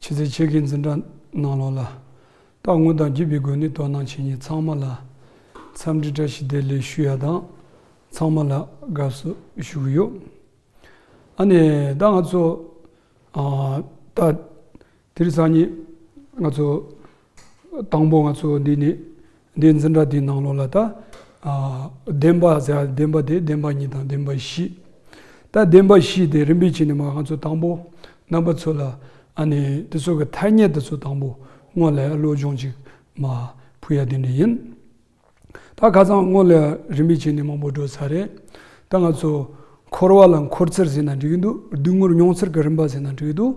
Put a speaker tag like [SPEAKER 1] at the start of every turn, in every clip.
[SPEAKER 1] ཕྱི་ཚེས་ཕྱེད་ཀའི་འཛིན་གྲྭ་གནང་ལོགས་ལ། རྟག་དངོས་དང་བརྒྱུད་པའི་སྒོ་ནས་དོ་སྣང་བྱེད་མྱི་ཚང་མ་ལ། འཚམས་འདྲི་བཀྲ་ཤིས་བདེ་ལེགས་ཞུ་ཡ་དང། ཚང་མ་ལ་དགའ་བསུ་ཞུ་གི་ཡོད། ཨ་ནི་ད་ང་ཚོ། ད། དིར་ཚང་གཉིས། ང་ཚོ། དང་པོ་ང་ཚོ་འདི་ནི་འདི་འཛིན་གྲྭ་འདིའི་ནང་ལོགས་ལ་ད་བདེན་པ་ཟེར་བདེན་པ་དེ་བདེན་པ་གཉིས་དང་བདེན་པ་བཞི། ད་བདེན་པ་བཞི་དེ་རིམ་པས་ཕྱིན་ནས་མ་ང་ཚོ་དང་པོ་རྣམ་པ་ཚོ་ལ་ཨ་ནི་འདི་ཚོ་གི་ཐ་སྙད་འདི་ཚོ་དང་པོ་དངོས་ལས་བློ་སྦྱོང་ཅིག་མ་ཕུལ་ཡ་དེ་འདྲ་ཡིན། ད་ཁ་སང་སྔོན་ལ་རིམ་པས་བྱས་ནས་མང་པོ་བགྲོ་ས་རེད། ད་ང་ཚོ་འཁོར་བ་ལ་འཁོར་ཚུལ་ཟེར་ན་འགྲིག་གི་འདུག་སྡུག་བསྔལ་མྱོང་ཚུལ་གྱི་རིམ་པ་ཟེར་ན་འགྲིག་གི་འདུག་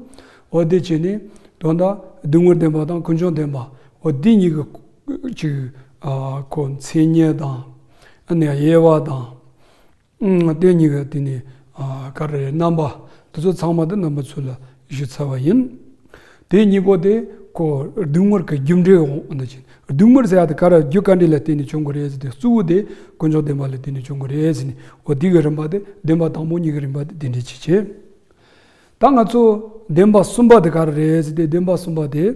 [SPEAKER 1] འོ་དེ་བྱས་ནས་དོན་དག་སྡུག་བསྔལ་བདེན་པ་དང་ཀུན་འབྱུང་བདེན་པ་འོ་དེ་གཉིས་ཀྱི་གཅིག་གོ་མཚན་ཉིད་དང། ཡེ་བ་དང། ལྟས་གཉིས་ཀ་དེ་ནི་ཀ་ར་ཡའི་རྣམ་པ་འདི་ཚོ་ཚང་མ་དེ་རྣམ་པ་ཚུལ་ལ་གཞི་ཚར་བ་ཡིན། དེ་གཉིས་པོ་དེ་ཁོ་བདུད་ངོར་གྱི་རྒྱུ་འབྲས་འོག་ན་བྱིན། བདུད་ངོར་ཟེར་བ་དེ་ཀ་ར་རྒྱུ་ཀ་འདྲི་ལ་བརྟེན་ནས་བྱུང་གི་རེད་ཟེར་ཏེ་གཙོ་བོ་དེ་དཀོན་མཆོག་བདེན་པ་ལ་བརྟེན་ནས་བྱུང་གི་རེད་ཟེར་ནས་འོ་དེ་གི་རིམ་པ་དེ་བདེན་པ་དང་པོ་གཉིས་ཀྱི་རིམ་པ་དེ་དེ་འདྲའི་ཆེ་གྱི། ད་ང་ཚོ་བདེན་པ་གསུམ་པ་དེ་ག་རེ་རེད་ཟེར་ཏེ་བདེན་པ་གསུམ་པ་དེ།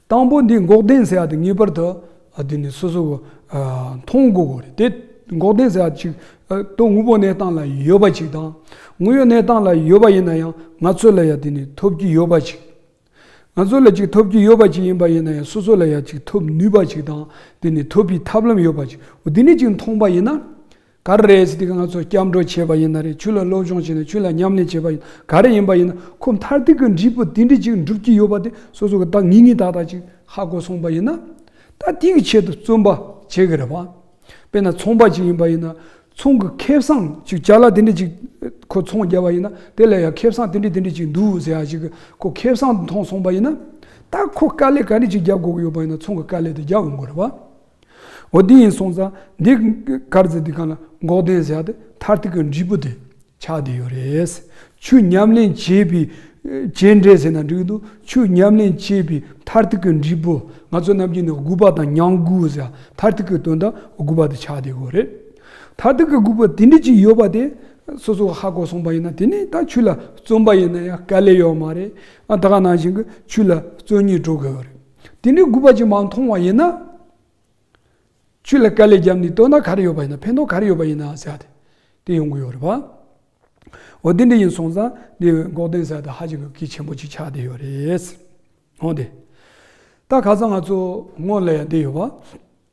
[SPEAKER 1] དང་པོ་འདི་འགོག་བདེན་ཟེར་བ་དེ་ངེས་པར་དུ་འདི་ནི་སོ་སོ་མཐོང་དགོས་དགོས་རེད་དེ། འགོག་བདེན་ཟེར་བ་ཅིག་ཏུ་དངོས་པོ་གནས་སྟངས་ལ་ཡོད་པ་ཅིག་དང། དངོས་ཡོད་གནས་སྟངས་ལ་ཡོད་པ་ཡིན་ན་ཡང་ང་ཚོ་ལ་ཡང་དེ་ནི་ཐོབ་ཀྱི་ཡོད་པ་ཅིག། ང་ཚོ་ལ་ཅིག་ཐོབ་ཀྱི་ཡོད་པ་ཅིག་ཡིན་པ་ཡིན་ན་ཡང་སོ་སོ་ལ་ཡང་ཅིག་ཐོབ་ནུས་པ་ཅིག་དང་དེ་ནི་ཐོབ་པའི་ཐབས་ལམ་ཡོད་པ་ཅིག་འོ་དེ་ནས་ཅིག་མཐོང་པ་ཡིན་ན། ག་རེ་རེད་ཟེར་དུས་ང་ཚོ་སྐྱབས་འགྲོ་བྱས་པ་ཡིན་ན་རེད་ཆོས་ལ་སློབ་སྦྱོང་བྱས་ན་ཆོས་ལ་ཉམས་ལེན་བྱས་པ་ཡིན་ག་རེ་ཡིན་པ་ཡིན་ན་ཁོ་མཐར་ཐུག་གི་འབྲས་བུ་དེ་འདྲི་ཅིག་འགྲུབ་ཀྱི་ཡོད་པ་དེ་སོ་སོ་གི་ད་ངི་ངི་དག་དག་ཅིག་ཧ་གོ་སོང་པ་ཡིན་ན། ད་དེ་གི་ཆེད་དུ་བརྩོན་པ་བྱེད་གི་རེད་པ། དཔེར་ན་ཚོང་པ་ཅིག་ཡིན་པ་ཡིན་ན་ཚོང་གི་ཁེ་བཟང་ཅིག་བྱ་ལ་དེ་འདྲི་ཅིག་ཁོ་ཚོང་བརྒྱབ་པ་ཡིན་ན་དེ་ལ་ཡང་ཁེ་བཟང་དེ་འདྲི་དེ་འདྲི་ཅིག་འདུག་ཟེར་ཡག་ཅིག་ཁོ་ཁེ་བཟང་འཐོང་སོང་པ་ཡིན་ན། ད་ཁོ་དཀའ་ལས་ག་རེ་ཅིག་བརྒྱབ་དགོས་ཀྱི་ཡོད་པ་ཡིན་ན་ཚོང་གི་དཀའ་ལས་དེ་བརྒྱབ་འོང་གི་རེད་པ། འོ་དེ་ཡིན་སོང་ཙང་འདི་དཀར་རྩི་འདི་གང་ལ་འགོག་བདེན་བཞག་སྟེ་མཐར་ཐུག་གི་འབྲས་བུ་དེ་ཆགས་བསྡད་ཡོད་རེད། ཆུ་ཉམས་ལེན་བྱས་པའི་བྱས་འབྲས་ཟེར་ན་འགྲིག་འདུག་ཆུ་ཉམས་ལེན་བྱས་པའི་མཐར་ཐུག་གི་འབྲས་བུ་ང་ཚོ་རྣམས་ཀྱིས་ནི་དགུ་པ་དང་ཉང་དགུ་ཟེར་ཡང་མཐར་ཐུག་གི་དོན་དག་དགུ་པ་དེ་ཆགས་བསྡད་དགོས་རེད། མཐར་ཐུག་གི་དགུ་པ་དེ་འདྲ་ཅིག་ཡོད་པ་དེ་སོ་སོ་ཧ་གོ་སོང་པ་ཡིན་ན་དེ་ནི་ད་ཆུ་ལ་བརྩོན་པ་ཡིན་ན་ཡང་དཀའ་ལས་ཡོད་མ་རེད། ད་ག་ནང་བཞིན་གྱི་ཆུ་ལ་བརྩོན་ཉེས་སྤྲོ་དགོས་ཡོད་རེད། དེ་འདྲའི་རྒུད་པ་ཅིག་མ་མཐོང་བ་ཡིན་ན། ཆུ་ལ་དཀར་ལས་བརྒྱབ་ནས་བཏོན་ན་ག་རེ་ཡོད་པ་ཡིན་ན་ཕན་ཐོགས་ག་རེ་ཡོད་པ་ཡིན་ན་ཟེར་བ་དེ་ཡོང་གི་ཡོད་རེད་པ། འོ་དེ་འདྲ་ཡིན་སོང་ཙང་འདི་འགོག་བདེན་ས་དེ་ཧ་ཅང་གི་གལ་ཆེན་པོ་ཅིག་ཆགས་བསྡད་ཡོད་རེད། འོང་དེ། ད་ག་ཚོད་ང་ཚོ་སྔོན་ལ་ཡང་བསྡད་ཡོད་པ།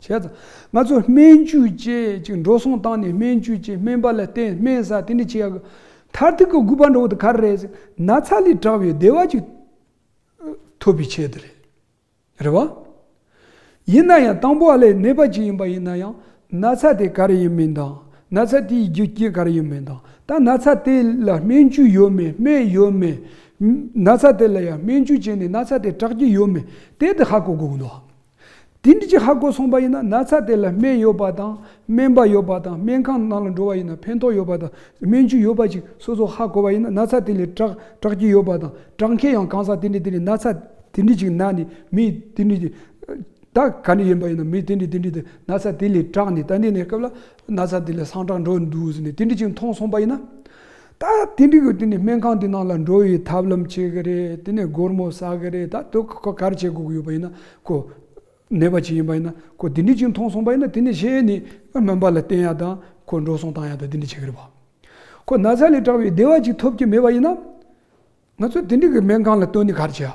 [SPEAKER 1] བྱས། ང་ཚོས་སྨན་བཅོས་བཅས་ཀྱི་འགྲོ་སོང་བཏང་ནས་སྨན་བཅོས་བྱས་སྨན་པ་ལ་བསྟེན་སྨན་ཟ་དེ་འདྲ་བྱས་ཡག་གི། མཐར་ཐུག་གི་དགོས་པ་འགྲོ་བ་དེ་ག་རེ་རེད་ཟེར་ན་ཚ་ལས་དྲག་པའི་བདེ་བ་ཅིག་ཐོབ་པའི་ཆེད་དུ་རེད། རེད་བ། ཡིན་ན་ཡང་དང་པོ་ཨ་ལས་ནད་པ་ཅིག་ཡིན་པ་ཡིན་ན་ཡང་ན་ཚ་དེ་ག་རེ་ཡིན་མིན་དང་ན་ཚ་དེའི་རྒྱུ་རྐྱེན་ག་རེ་ཡིན་མིན་དང་ད་ན་ཚ་དེ་ལ་སྨན་བཅོས་ཡོད་མེད་སྨན་ཡོད་མེད། ན་ཚ་དེ་ལ་ཡང་སྨན་བཅོས་བྱས་ནས་ན་ཚ་དེ་དྲག་གི་ཡོད་མེད་དེ་དེ་ཧ་གོ་དགོས་གི་འདུག། དེ་འདི་ཅི་ཧ་གོ་སོང་པ་ཡིན་ན་ན་ཚ་དེ་ལ་སྨན་ཡོད་པ་དང་སྨན་པ་ཡོད་པ་དང་སྨན་ཁང་ནང་ལ་འགྲོ་བ་ཡིན་ན་ཕན་ཐོག་ཡོད་པ་དང་སྨན་ཆུ་ཡོད་པ་ཅིག་སོ་སོ་ཧ་གོ་བ་ཡིན་ན་ན་ཚ་དེ་ལས་དྲག་དྲག་ཅིག་ཡོད་པ་དང་དྲག་མཁན་ཡང་གང་ཟག་དེ་འདྲི་དེ་འདྲི་ན་ཚ་དེ་འདྲི་ཅིག་ན་ནི་མི་དེ་འདྲི་དེ་ད་ག་འདྲི་ཡིན་པ་ཡིན་ན་མི་དེ་འདྲི་དེ་འདྲི་དེ་ན་ཚ་དེ་ལས་དྲག་ནས་ད་འདི་ནས་སྐབས་ལ་ན་ཚ་དེ་ལས་སངས་དྲག་འགྲོ་འདུག་ཟེར་ནས་དེ་འདྲི་ཅིག་མཐོང་སོང་པ་ཡིན་ན། ད་དེ་འགྲིག་གི་དེ་ནས་སྨན་ཁང་དེ་ནང་ལ་འགྲོ་བའི་ཐབས་ལམ་བྱེད་གི་རེད་དེ་ནས་སྒོར་མོ་ཟ་གི་རེད་ད་དུ་ཁོ་གར་བྱེད་དགོས་ཡོད་པ་ཡིན་ན་ཁོ་ནད་པ་ཅིག་ཡིན་པ་ཡིན་ན་ཁོ་དེ་འདྲས་ཅིག་མཐོང་སོང་པ་ཡིན་ན་དེ་ནས་གཞན་ནས་སྨན་པ་ལ་བསྟན་ཡག་དང་ཁོ་འགྲོ་སོང་བཏང་ཡག་དང་དེ་འདྲས་བྱེད་གི་རེད་པ། ཁོ་ན་ཚ་ལས་དྲག་པའི་བདེ་བ་ཅིག་ཐོབ་ཀྱི་མེད་པ་ཡིན་ན། ང་ཚོ་དེ་འགྲིག་གི་སྨན་ཁང་ལ་བཏོན་ནས་གར་བྱེད་ཡག།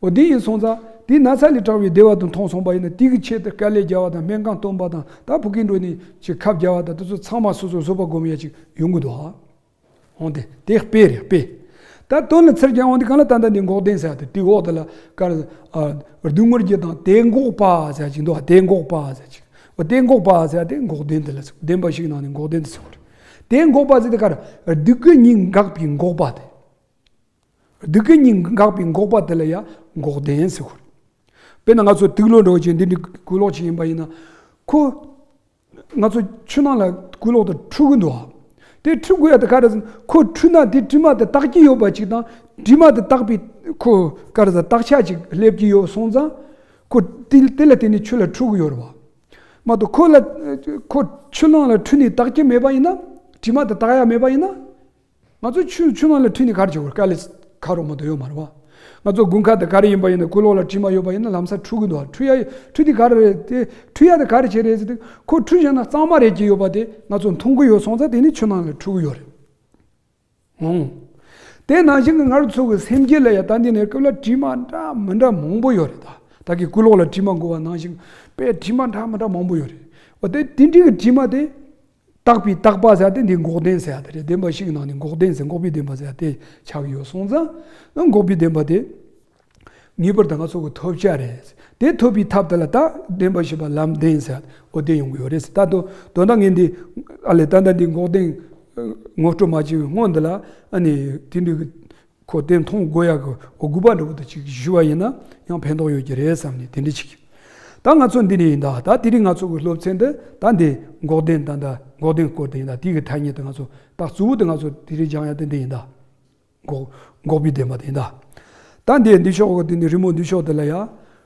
[SPEAKER 1] འོ་དེ་ཡིན་སོང་ཙང་དེ་ན་ཚ་ལས་དྲག་བའི་བདེ་བ་དུ་མཐོང་སོང་པ་ཡིན་ན་དེ་གི་ཆེད་དུ་དཀའ་ལས་རྒྱག་བ་དང་སྨན་ཁང་སྟོན་པ་དང་ད་བུ་གིན་འགྲོ་ནས་ཅིག་ཁབ་རྒྱག་བ་དང་དེ་ཚོ་ཚང་མ་སོ་སོ་བཟོ་པ་སྒོམ་ཡ་ཅིག་ཡོང་གི་འདུག་ཧ་འོང་དེ་དེ་དཔེ་རེད་དཔེ་ད་སྟོན་ལ་ཚེར་གྱང་འོང་དེ་གང་ལ་ད་ལྟ་འདི་འགོག་བདེན་ཟེར་དེ་དེའི་འོག་དེ་ལ་དཀར་རྡུལ་ངོར་རྒྱུ་དང་དེ་འགོག་པ་ཟེར་ཅིག་འདུག་དེ་འགོག་པ་ཟེར་ཅིག་འོ་དེ་འགོག་པ་ཟེར་དེ་འགོག་བདེན་དེ་ལ་ཚིག་བདེན་པ་ཞིག་ནང་ནས་འགོག་བདེན་དུ་ཚུད་པ་རེད་དེ་འགོག་པ་ཟེར་དེ་དཀར་རྡུལ་གྱི་ཉིད་འགག་པའི་འགོག་པ་དེ། སྡུག་གི་སྙིང་གི་འགགས་པའི་འགོག་པ་དེ་ལ་ཡང་འགོག་བདེན་ཟེར་ཁུལ། དཔེར་ན་ང་ཚོ་ཐིག་ལོ་འདྲ་བོ་ཅིག་འདི་འདྲའི་སྐུ་ལོག་ཅིག་ཡིན་པ་ཡིན་ན། ཁོ་ང་ཚོ་ཆུ་ནང་ལ་སྐུ་ལོག་དང་འཁྲུ་གི་འདུག་དེ་འཁྲུ་དགོས་ཡ་དེ་ག་རེ་ཟིན་ཁོ་འཁྲུ་ན་དེ་དྲི་མ་དེ་བརྟག་གི་ཡོད་པ་ཅིག་དང་དྲི་མ་དེ་བརྟག་པའི་ཁོ་ག་རེ་ཟ་བརྟག་བྱ་ཅིག་སླེབས་ཀྱི་ཡོད་སོང་ཙང། ཁོ་དེ་ལ་བརྟེན་ནས་ཆུ་ལ་འཁྲུ་གི་ཡོད་རེད་བ། མ་གཏོགས་ཁོ་ལ་ཁོ་ཆུ་ནང་ལ་འཁྲུ་ནས་བརྟག་གི་མེད་པ་ཡིན་ན་དྲི་མ་དེ་བརྟག་ཡ་མེད་པ་ཡིན་ན། ང་ཚོ་ཆུ་ཆུ་མ་ལ་ཁྲིད་ནས་གར་གྱི་ཡོད་ཀ་ལི་ཁ་རོ་མོ་དོ་ཡོད་མ་རེད་བ། ང་ཚོ་དགུན་ཁ་དེ་ག་རེ་ཡིན་པ་ཡིན་ན་སྐུ་ལོག་ལ་དྲི་མ་ཡོད་པ་ཡིན་ན་ལམ་སར་ཁྲུ་གི་འདུག་བ་ཁྲུ་ཡ་ཁྲུ་དེ་ག་རེ་རེད་དེ་ཁྲུ་ཡ་དེ་ག་རེ་བྱེད་རེད་ཟེར་དུས་ཁོ་ཁྲུ་བཞེངས་ན་གཙང་མ་རེད་ཀྱི་ཡོད་པ་དེ་ང་ཚོ་མཐོང་གི་ཡོད་སོང་ཙ་དེ་ནི་ཆུ་ནང་ལ་ཁྲུ་གི་ཡོད་རེད་འང། དེ་ནང་བཞིན་གྱི་ངར་ཚུགས་ཀྱི་སེམས་སྐྱིད་ལ་ཡ་ད་འདི་ནས་སྐབས་ལ་དྲི་མ་འདྲ་མི་འདྲ་མང་པོ་ཡོད་རེད་ད་ད་གི་སྐུ་ལོག་ལ་དྲི་མ་འགོ་བ་ནང་བཞིན་པའི་དྲི་མ་འདྲ་མི་འདྲ་མང་པོ་ཡོད་རེད་བ་དེ་དེ་འདྲི་གི་དྲི་མ་དེ། བརྟག་པའི་བརྟག་པ་ཟེར་ཏེ་འདི་འགོག་བདེན་ཟེར་དེ་རེད་བདེན་པ་ཞིག་གི་ནང་ནས་འགོག་བདེན་ཟེར་འགོག་པའི་བདེན་པ་ཟེར་དེ་ཆགས་ཡོད་སོང་ཙང་འགོག་པའི་བདེན་པ་དེ་ངེས་པར་དུ་ང་ཚོ་གི་ཐོབ་བྱ་རེད་ཟེར་དེ་ཐོབ་པའི་ཐབས་དེ་ལ་བརྟག་བདེན་པ་ཞེས་པ་ལམ་བདེན་ཟེར་འོ་བདེན་ཡོང་གི་ཡོད་རེད་ཟེར་ད་དུང་དོན་དག་ངས་འདི་ཨ་ལས་ད་ལྟ་འདི་འགོག་བདེན་ངོ་སྤྲོད་མ་བྱས་པའི་སྔོན་འདི་ལ་ཨ་ནི་དེ་འདྲའི་ཁོ་བསྟན་མཐོང་དགོས་ཡག་གི་འོ་སྒུག་པ་འདྲ་བོ་དང་ཅིག་བཞུ་བ་ཡིན་ན་ཡང་ཕན་ཐོག་ཡོད་ཀྱི་རེད་བསམ་ནས་དེ་འདྲ་བྱེད་ཀྱི། ད་ང་ཚོ་འདི་ནས་ཡིན་ད་ད་དེ་རིང་ང་ཚོ་གི་སློབ་ཚན་འདི་ད་འདི་འགོག་བདེན་ད་འདི་འགོག་བདེན་སྐོར་དེ་ཡིན་ད་དེ་གི་ཐ་སྙད་དེ་ང་ཚོ་ད་གཙོ་བོ་དེ་ང་ཚོ་དེ་རིང་སྦྱང་ཡ་དེ་འདི་ཡིན་ད། འགོག་འགོག་པའི་བདེན་པ་དེ་ཡིན་ད། ད་འདི་འདི་ཕྱོགས་གི་དེ་འདི་རི་མོ་འདི་ཕྱོགས་དེ་ལ་ཡ།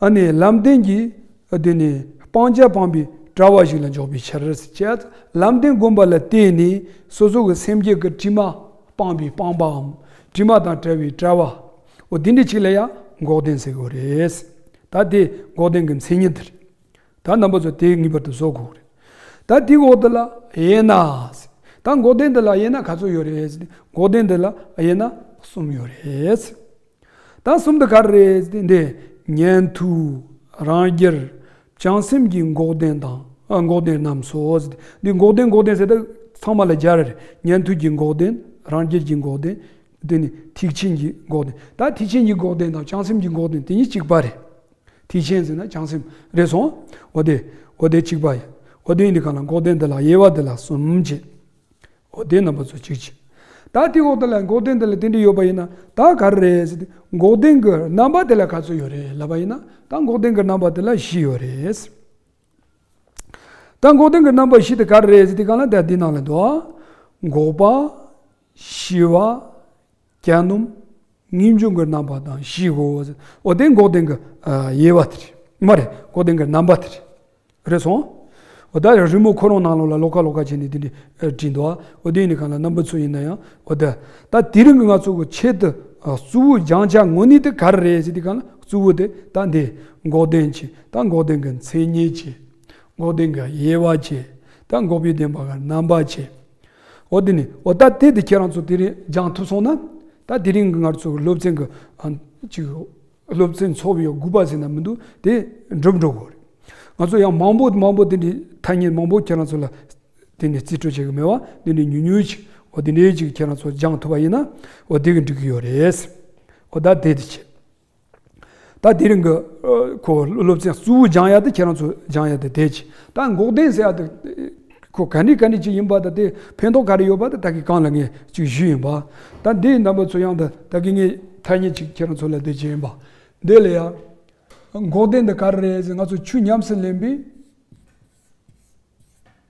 [SPEAKER 1] ཨ་ནི་ལམ་བདེན་གྱི་དེ་ནི་སྤང་བྱ་སྤངས་པའི་དྲ་བ་ཞིག་ལ་འཇོག་པའི་ཕྱིར། ཅད་ལམ་བདེན་བསྒོམ་པ་ལ་བརྟེན་ནས་སོ་སོ་གི་སེམས་བསྐྱེད་ཀྱི་དྲི་མ་སྤངས་པའི་སྤངས་པའམ་དྲི་མ་དང་བྲལ་བའི་བྲལ་བའོ། དེ་འདྲའི་ཆིག་ལ་ཡང་འགོག་བདེན་ཟེར་དགོས་རེད། ད་དེ་འགོག་བདེན་གྱི་མཚན་ཉིད་རེད། ད་རྣམ་པ་ཚོ་དེ་ངེས་པར་དུ་བཟོ་དགོས་རེད། ད་དེའི་འོག་ཏུ་ལ་དབྱེ་ན། ད་འགོག་བདེན་འདི་ལ་དབྱེ་ན་ག་ཚོད་ཡོད་རེད། འགོག་བདེན་འདི་ལ་དབྱེ་ན་གསུམ་ཡོད་རེད། ཟླ་གསུམ་དུ་གར་རེ་འདས་ཉན་ཐོས་རང་རྒྱལ། བྱང་སེམས་ཀྱི་འགོག་བདེན་དང་འགོག་བདེན་རྣམས་སོ། འདི་འགོག་བདེན་འགོག་བདེན་ཟེར་ཏེ་ཚང་མ་ལ་སྦྱར་བས་ཉན་ཐོས་ཀྱི་འགོག་བདེན་རང་རྒྱལ་གྱི་འགོག་བདེན། འདི་ནི་ཐེག་ཆེན་གྱི་འགོག་བདེན་ད་ཐེག་ཆེན་གྱི་འགོག་བདེན་དང་བྱང་སེམས་ཀྱི་འགོག་བདེན་དེ་གཉིས་གཅིག་པ་རེད། ཐེག་ཆེན་ཟེར་ན་བྱང་སེམས་རེད་སོང་འོ་དེ་འོ་དེ་གཅིག་པ་ཡིན་འོ་དེ་ཡིན་དེ་གང་ལ་འགོག་བདེན་འདི་ལ་དབྱེ་བ་འདི་ལ་གསུམ་བྱེད་འོ་བདེན་རྣམ་པ་ཚོ་གཅིག་གཅིག། ད་དེའི་འོག་ཏུ་ལ་འགོག་བདེན་འདི་ལ་དེ་འདྲ་ཡོད་པ་ཡིན་ན་ད་ག་རེ་རེད་ཟེར་ཏེ་འགོག་བདེན་གྱི་རྣམ་པ་དེ་ལ་ག་ཚོད་ཡོད་རེད་ལབ་པ་ཡིན་ན་ད་འགོག་བདེན་གྱི་རྣམ་པ་དེ་ལ་བཞི་ཡོད་རེད། ད་འགོག་བདེན་གྱི་རྣམ་པ་བཞི་དེ་ག་རེ་རེད་ཟེར་ཏེ་གང་ལ་དེ་ལ་འདི་ནང་ལ་འདུག་ཨ། འགོག་པ། ཞི་བ། གྱ་ནོམ། ངེས་འབྱུང་གི་རྣམ་པ་དང་བཞི་གོ། འོ་དེ་འགོག་བདེན་གྱི་དབྱེ་བ་དེ་རེད། མ་རེད། འགོག་བདེན་གྱི་རྣམ་པ་དེ་རེད། རེད་སོང། འོ་ད་རི་མོ་ཁོ་རང་ནང་ལོགས་ལ་ལོག་ཀ་ལོག་ཀ་བྱས་ནས་དེ་འདྲས་བྲིས་འདུག་ཨ། འོ་དེ་ནི་གང་ལ་རྣམ་པ་ཚུལ་ཡིན་ན་ཡང་འོ་ད། ད་དེ་རིང་གི་ང་ཚོ་གི་ཆེད་དུ་གཙོ་བོའི་སྦྱང་བྱ་དངོས་གནས་དེ་ག་རེ་རེད་ཟེར་དུས་གང་ལ་གཙོ་བོ་དེ་ད་འདི། འགོག་བདེན་གྱི་ད་འགོག་བདེན་གྱི་མཚན་ཉིད་ཀྱི། འགོག་བདེན་གྱི་དབྱེ་བ་གྱི་ད་འགོག་པའི་བདེན་པ་གྱི་རྣམ་པ་གྱི། འོ་དེ་ནི་འོ་ད་དེ་དེ་ཁྱེད་རང་ཚོ་དེ་རིང་སྦྱང་ཐུབ་སོང་ན། ད་དེ་རིང་གི་ངར་ཚོ་གི་སློབ་ཚན་གི་ཅིག་སློབ་ཚན་འཚོགས་པའི་དགོས་པ་ཟེར་ན་མི་འདུག་དེ་འགྲུབ་འགྲོ་དགོས་རེད། ང་ཚོ་ཡང་མང་པོ་མང་པོ་དེ་འདྲའི་ཐ་སྙད་མང་པོ་ཁྱེད་རང་ཚོ་ལ་དེ་ནས་རྩིས་སྤྲོད་བྱེད་གི་མེད་བ་དེ་འདྲའི་ཉུང་ཉུང་ཅིག་འོ་དེ་འདྲའི་ཅིག་ཁྱེད་རང་ཚོ་སྦྱང་ཐུབ་པ་ཡིན་ན་འོ་དེ་གི་འགྲིག་གི་ཡོད་རེད། འོ་ད་དེ་དེ་ཁྱེད། ད་དེ་རིང་གི་ཁོ་སློབ་ཚན་གཙོ་བོ་སྦྱང་ཡ་དེ་ཁྱེད་རང་ཚོ་སྦྱང་ཡ་དེ་དེ་གཅིག་ད་འགོག་བདེན་ཟེར་ཡ་དེ་ཁོ་ག་ནས་ག་ནས་ཅིག་ཡིན་པ་ད་དེ་ཕན་ཐོག་ག་རེ་ཡོད་པ་དེ་ད་གི་གང་ལ་ངས་ཅིག་ཞུས་ཡིན་པ་ད་འདིའི་རྣམ་པ་ཚོ་ཡང་ད་ད་གི་ངས་ཐ་སྙད་ཅིག་ཁྱེད་རང་ཚོ་ལ་འདི་བྱས་ཡིན་པ་འདི་ལ་ཡང་འགོག་བདེན་འདི་ག་རེ་རེད་ཟེར་ང་ཚོ་ཆུ་ཉམས་སུ་ལེན་པའི།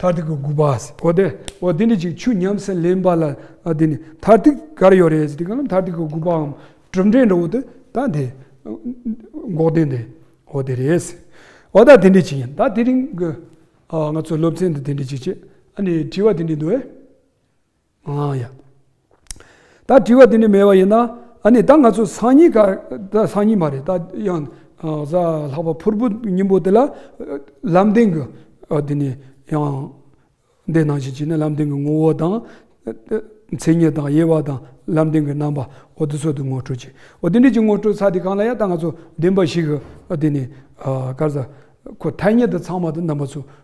[SPEAKER 1] མཐར་ཐུག་གི་དགུ་པ། གོ་བདེ། འོ་དེ་ནི་ཅིག་ཆུ་ཉམས་སུ་ལེན་པ་ལ་དེ་ནི་མཐར་ཐུག་གར་ཡོད་རེད་ཟེར་དུས་གང་ལ་མཐར་ཐུག་གི་དགུ་པའམ་གྲུབ་འབྲས་འགྲོ་འོ་དེ་ད་དེ། འགོག་བདེན་དེ་འོ་དེ་རེད་ཟེར། འོ་ད་དེ་འདྲའི་ཅིག་ཡིན་ད་དེ་རིང་གི། ང་ཚོ་སློབ་ཚན་དུ་དེ་འདྲའི་ཅིག་བྱེད་ཨ་ནི་དྲི་བ་དེ་འདྲའི་འདུག་ཨེ། ཨ་ཡ། ད་དྲི་བ་དེ་འདྲ་མེད་པ་ཡིན་ན། ཨ་ནི་ད་ང་ཚོ་སང་ཉིན་ག། ད་སང་ཉིན་མ་རེད་ད་ཡང། གཟའ་ལྷག་པ་ཕུར་བུ་སྙིང་པོ་དེ་ལ། ལམ་བདེན་གྱི། དེ་ནི་ཡང། འདི་ནང་བཞིན་བྱས་ན་ལམ་བདེན་གྱི་ངོ་བོ་དང། མཚན་ཉིད་དང་དབྱེ་བ་དང་ལམ་བདེན་གྱི་རྣམ་པ། འོ་དེ་ཚོ་དེ་ངོ་སྤྲོད་བྱེད། འོ་དེ་འདྲ་གྱི་ངོ་སྤྲོད་ཚ་དེ་གང་ལ་ཡང་ད་ང་ཚོ་བདེན་པ་ཞིག་གི། དེ་ནི། སྐར་གཟའ། ཁོ་ཐ་སྙད་དུ་ཚང་མ་དུ་རྣམ་པ་ཚོ།